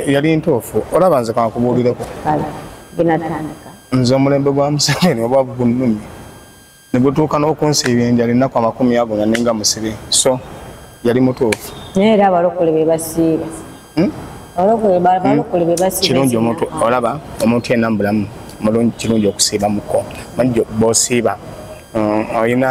yali ntuufu olaba nze kankubuulireko nze omulembe gwa museveni oba gunumi negutuuka n'okunsiiba enjala ennaku amakumi ago nga nenga musibe so yali mutuufu naye era abalokole bebasiiba hmm? hmm? kirungi omuntu olaba omuntu yenna mubulamu mulungi kirungi okusiiba muko manyi bosiiba hmm, olina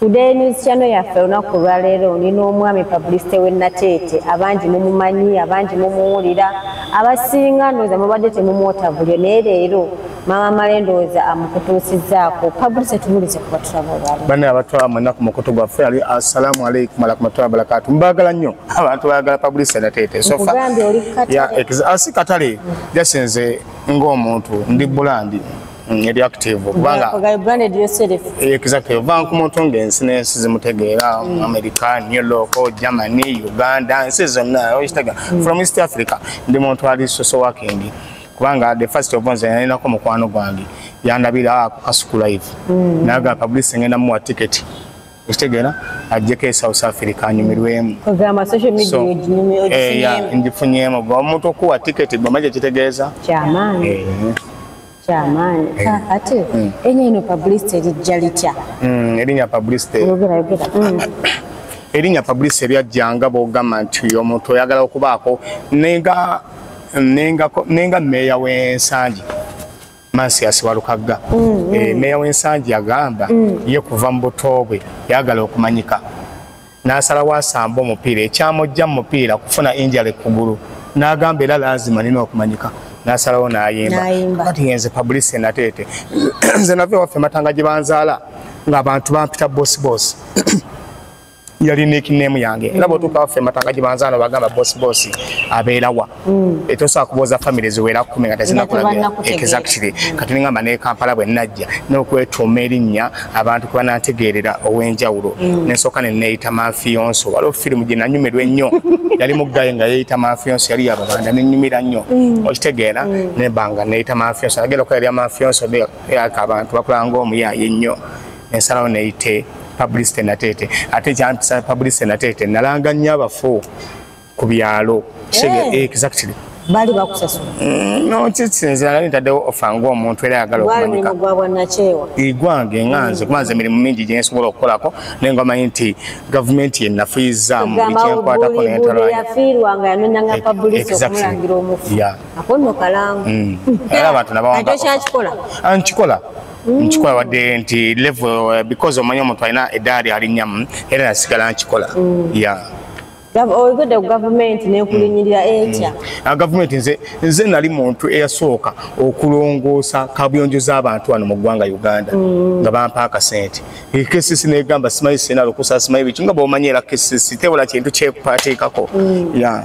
Today News Channel yaffe olunaku olwaleero ndi n'omwami publicity w'e Nateete abangi mumumanyi abangi mumuwulira abasinga ndowooza mubadde temumwotavulyo naye leero maama male ndowooza amukutuusizzaako publicity tumulize kuba tulaba olwaleero bane abatwala mu ennaku mukutu gwaffe ali assalaamu alaikum warakumatullahi wabarakaatu mbaagala nnyo abantu baagala publicity Nateete nkugambye oli katale asi katale jasinze ng'omuntu ndi bulandi Mm, eri active kubanga exactly ovanga ku muntu ng'ensi n'ensi zimutegeera mm. america new york germany uganda ensi zonna okitega mm. from east africa ndi muntu ali soso working kubanga the first of nze nalinako mukwano gwange yandabira ku kasuku live naga kabulisi ngenda muwa ticket okitegera ajjeko e south africa anyumirwemu eh, njifunyemu gwe omuntu okuwa tiketi gwe maje kitegeeza kyamaanyi eh. kyamaanyi eh. kakati hmm. enya ino publicity erijja litya hmm, erinya publicity hmm. erinya publicity eryajjanga bwogamba nti omuntu oyagala okubaako nenga nenga nenga meeya w'ensangi Mansias Walukagga mm, mm. Eh, meeya w'ensangi yagamba mm. ye kuva mu buto bwe yagala okumanyika n'asalawo asamba omupiira ekyamujja mu mupiira kufuna injale kugulu n'agamba era lazima nina okumanyika n'asalawo n'ayimba kati ngenze publicity nateete nze nava ewaffe matanga gye banzaala ng'abantu bampita bosi bosi yali nick name yange era bwotuuka waffe matanga gibanzaano bagamba bosi bosi abeerawa mm. etosobola kubuuza famire ziwera kumi nga tezinakulaga exactly mm. kati ningamba ne kampala bwe najja n'okwetuuma erinnya abantu kuba nantegeerera ow'enjawulo mm. nensooka ne neeyita manfiyonso waliwo firimu gye nanyumirwa ennyo yali muggaye nga yeeyita manfiyonso yali yababanda nenyumira nnyo okitegeera nebanga neeyita manfiyonso nagenda okuba yali amanfiyonso akabantu bakulanga omuyaye ennyo ensalawo neyite publicity natete ate kyampisa publicity natete nalanga nnyo abafu ku byalo eh. exactly bali bakusasula mm, no kisinzira nali ntaddewo ofa ngaomuntu era yagala okumanyika igwange nga nze kuba nze emirimu mingi gye nsobola okukolako naye nga omanyi nti gavumenti yenafuyizaamu buli kyenkwatako nentalwaera abantu nabankikola nkikola wadde nti level eh, because omanyi omuntu alina eddaali alinnyamu era nasigala nkikola mm. ya oyogedde ku gavumenti nekulinyirira mm. etya mm. ah, gavumenti nze nze nali muntu eyasooka okulongoosa kabuyonjo z'abantu wano mu ggwanga uganda nga bampa akasente kcc negamba simanyi sina lukusa simanyi biki nga bwomanyi era kcc tebola kintu kyekupateekako ya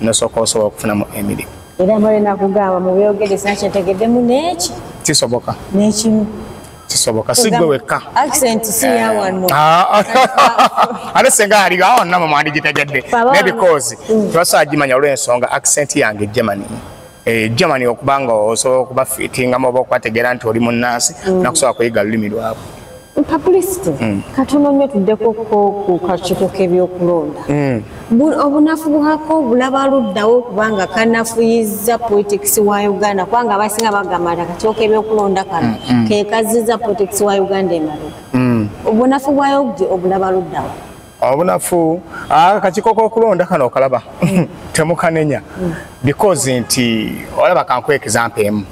nosooka osobola okufunamu emirimu era mwe nakugamba mu byogere sina kyentegeddemu n'eki kisoboka n'ekimu kisoboka si gwe wekka accent si ya eh. wano ah. ate senga ali awo namo mwandi gitegedde ne because mm. twasagimanya olw'ensonga accent yange germany Eh, germany okuba nga osobola okuba fitingamu oba okubategeera nti oli munnansi mm. nakusobola kuyiga lulimi lwabwe publicity mm. katono nnyo tuddeko ku kakiiko k'ebyokulonda mm. obunafu bwako bulaba luddawo kubanga kanafuyizza politics wa uganda kubanga abasinga bagamba nti akakiiko k'ebyokulonda kano kekazizza politics wa uganda emabega obunafu bwayo obulaba luddawo obunafu ah, akakiko kokulonda kano okalaba mm. temukanenya mm. because nti olaba kankuwa ekizampa emu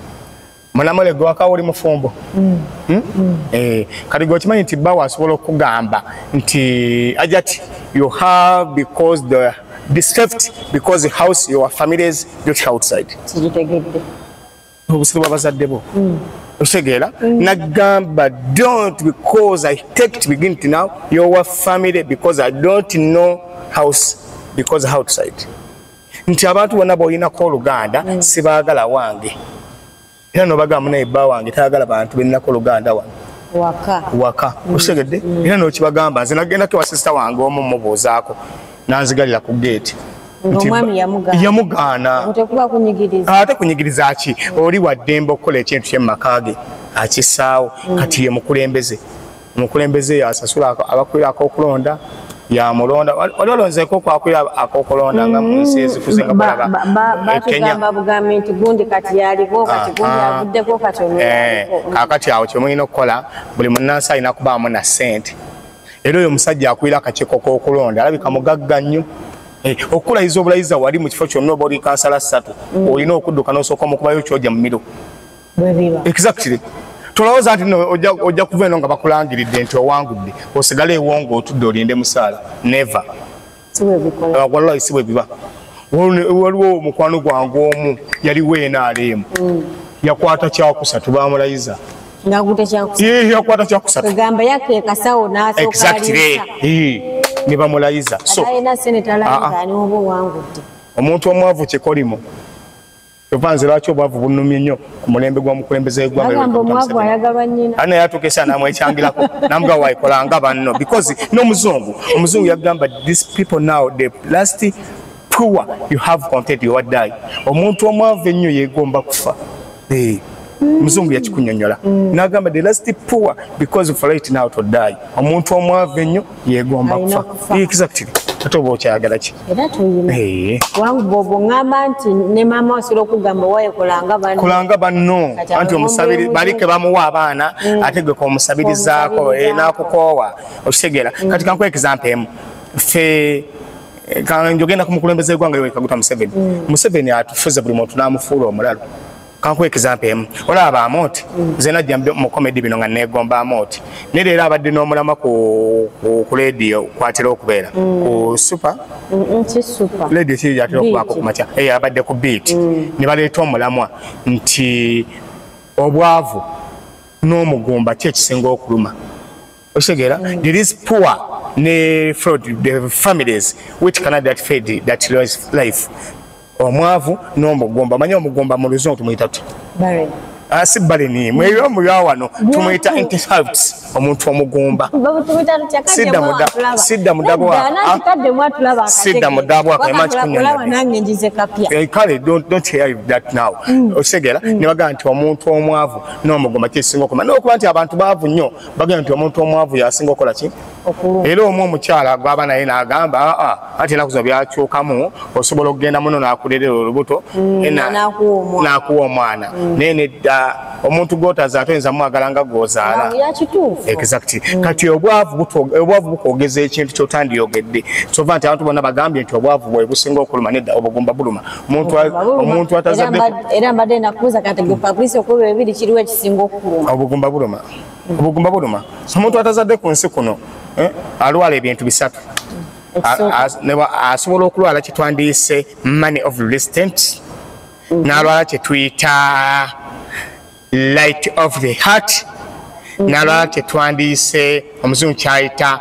munamole gwe wakawa oli mufumbo mm. hmm? mm. eh, kati gwe okimanyi nti bawe asobola okugamba nti ajati you have because the disturbed because the house your families get outside obusika bwa bazadde bo mm. otegeera mm. nagamba don't because i take to begin to now your family because i don't know house because outside nti abantu bona bolinako oluganda mm. sibagala wange era nobagamba munaye bba wange tayagala bantu beninako oluganda wano waka waka mm. okitegedde mm. era nokibagamba nze nagendako ewa sisita wange omu mubuuzaako nanzigalira ku geeti yamugaana ate kunyigiriza ki oli waddembe okukola ekintu kye mumaka ge akisaawo mm. kati ye mukulembeze omukulembeze yasasula abakulira akokulonda yamulonda wali olonzeko kwakulira akokulonda nga munsi mm. ezikuze nga balabaekenya bugambi nti gundi kati yaliko kati ah, gundi ah. avuddeko kati eh, kakati awo kyemulina okukola buli munnansi alina kubaamu na ssente era oyo omusajja akwira akakiko kokulonda alabika mugagga nnyo eh, okukulayiza obulayiza wali mu kifo kyonna oba oli kansala ssatu mm. olina okudduka nosooka omukubayo kyoja mumiro exactly tolowooza nti ojja kuva eno nga bakulangiridde nti owangudde osigale ewonga otudde olinde musaala never ah, wallahi si bwe biba waliwo omukwano gwange omu yali weena aleemu mm. yakwata kyakusatu bamulayiza yakwata kyakusatuexactly ne bamulayiza ah, ah. omuntu omwavu kikolimo Kyova nze lwaki obwavu bunumye nnyo ku mulembe gw'omukulembeze w'eggwangaomwavu ayagalwa nyina ana yatuuka esa namwekyangirako namuga waikolanga banno because n'omuzungu omuzungu yagamba these people now the last poor you have content your die omuntu omwavu ennyo yegomba kufa eh, omuzungu mm. yakikunyonyola mm. nagamba the last poor because for right now to die omuntu omwavu ennyo yegomba kufa exactly ate oba okyagala ki era tuyina eh. wangu bobo ngamba nti ne mama wasula okugamba waye kulanga banno kulanga banno anti omusabiri balike bamuwa abaana mm. ate gwe komusabirizaako eh, nakukoowa okitegera mm. kati kankuwa example emu fe eh, kanjogenda ku mukulembeze gwanga yowekaguta museveni mm. museveni atufuze buli muntu namufuula omulalu kankuwa example emu olaba amoti nze najja mu comedy bino nga negomba amoti naye leero abadde n'omulama ku leediyo kwatera okubeera mm. ku super leediyo kiri gyatera okubaako kumakya ey eh, abadde ku beat mm. ne baleeta omulamwa nti obwavu n'omugumba kyekisinga okuluma okitegeera mm. there is poor ne fraud the families which cannot that fed that life omwavu n'omugumba manya omugumba mu luzungu tumuyita tuti asi ah, balini mweyo muya wano tumuyita intihabt omuntu omugumba sidda muda sidda muda bwa ah, sidda muda bwa kwa manchi kunyanya eh, kale don't don't hear that now mm. osegera mm. ne baganda omuntu omwavu no mugumba kisingo kuma no kubanti abantu bavu nyo bagamba nti omuntu omwavu yasinga okola ki era omu omukyala gwaba naye nagamba aa ah, ah, ati enaku zino byakyukamu osobola okugenda muno nakulerera olubuto mm, nakuwa omwana mm. naye nedda omuntu gwotaza ate oyinza mwagala nga gwozaala exactly mm. kati obwavu bukwogeza ekintu kyotandiyogedde kyova nti abantu bona bagambye nti obwavu bwe businga okuluma nedda obugumba buluma omuntu atazaobugumba buluma obugumba buluma omuntu atazadde ku nsi kuno eh, alwala ebintu bisatu asobola okulwala kyetwandiyise money of resistant mhm. nalwala kyetuyita light of the heart mhm. nalwala kyetwandiyise omuzungu kyayita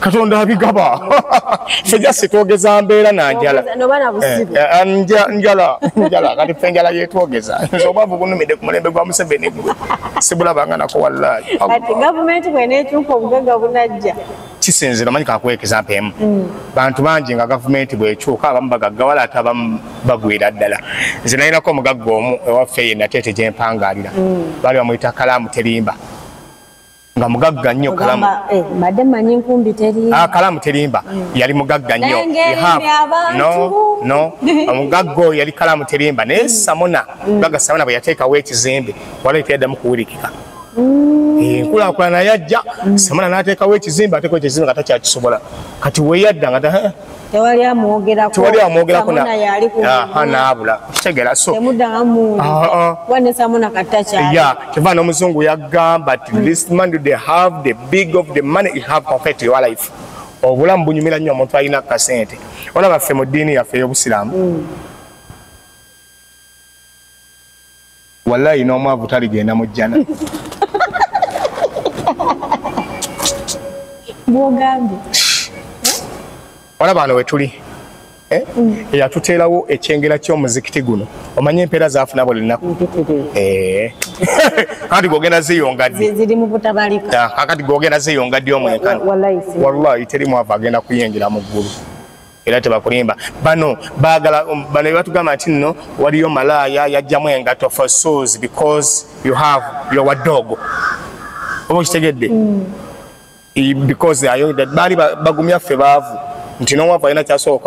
katonda abigaba feja sitwogeza mbeera nanjala eh, eh, njala njala kati fe njala yetwogeza nze obwavu bunumidde ku mulembe gwa museveni gwe sibulabanga nako wallahi gavumenti bwenekyuka obugaga bunajja kisinzira manyi kakwekeza mpemu mm. bantu bangi nga gavumenti bwekyuka abamu bagaggawala ate abamu bagwira ddala nze nayinako omugagga omu ewaffe ye nateete gyempangalira mm. baali bamuyita kalaamu terimba nga mugagga nnyo kalamu eh, mbadde manyi nkumbi terimba ah, kalamu terimba mm. yali mugagga nnyo no no omugagga oyo yali kalamu terimba naye mm. samona mm. mugagga samona bwe yateekawo ekizimbe waliwo ekyaddamu kuwulikika eh, enkulakulana yajja samona n'ateekawo ekizimbe ateekawo ekizimbe nga takyakisobola kati weyadda nga tewali amwogerako tewali amwogerako na yali ku ya hana abula kitegera so temuda amu ah, ah, ah. wane samona katacha ya kivana omuzungu ya gamba to mm. this man do they have the big of the money you have perfect your life obulamu bunyumira nnyo omuntu alina kasente olaba ffe mu ddiini yaffe ey'obusiraamu mm. Wallahi n'omwavu taligenda mu jjana. Bwogambye. Olaba wano we tuli. Eh? Mm. Eyatuteerawo ekyengera ky'omuzikiti guno. Omanyi empeera zaafuna buli nnaku. Eh. Kakati gwogenda ziyonga ddi? Ziri mu butabalika. Kakati gwogenda ziyonga ddi omwenkana? Wallahi teri mwavu agenda kuyingira mu ggulu. era tebakulimba bano bagala um, bano batugamba nti nno waliyo malaaya yajjamu engato for souls because you have your dog oba okitegedde mm. because ayogedde baali bagumya ffe baavu nti nowaavu alina kyasobola okola